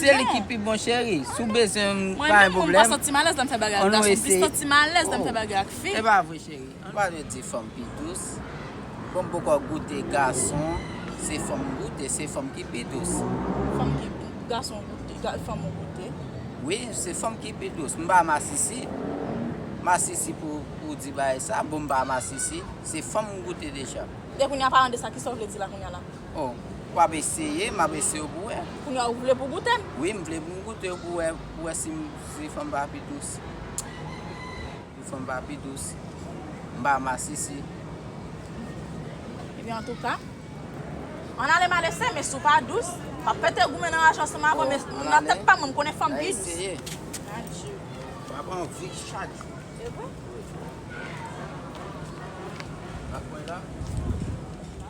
Se li ki pi bon cheri. Si w bezwen m pa gen pwoblèm. An nou eseye. Oh e pa vre cheri. Ou pa dwe di fanm pi dous. Fanm poko goute gason se fanm goute se fanm ki pi dous. Fanm ki pi gason goute fanm ou goute. Wi se fanm ki pi dous. M pa masisi. Masisi pou ou di bagay sa. Bon m pa masisi. Se fanm m goute deja. Depi kounya palan de sa kisa w vle di la kounya la. Oh w ap eseye? M ap eseye w pou wè. Kounye a ou vle pou goute? Wi m vle pou m goute yo pou wè pou wè si si fanm pa pi dous. Si fanm pa pi dous. M pa masisi. Ebyen antouka ann ale m al eseye men si w pa dous m ap pete goumen nan raj ansanm avè w men nan tèt pa m mwen m konnen fanm pi dous. An eseye. Adjee. W ap anvi chak jou. Se vre? Wi. Ou pa kwè la?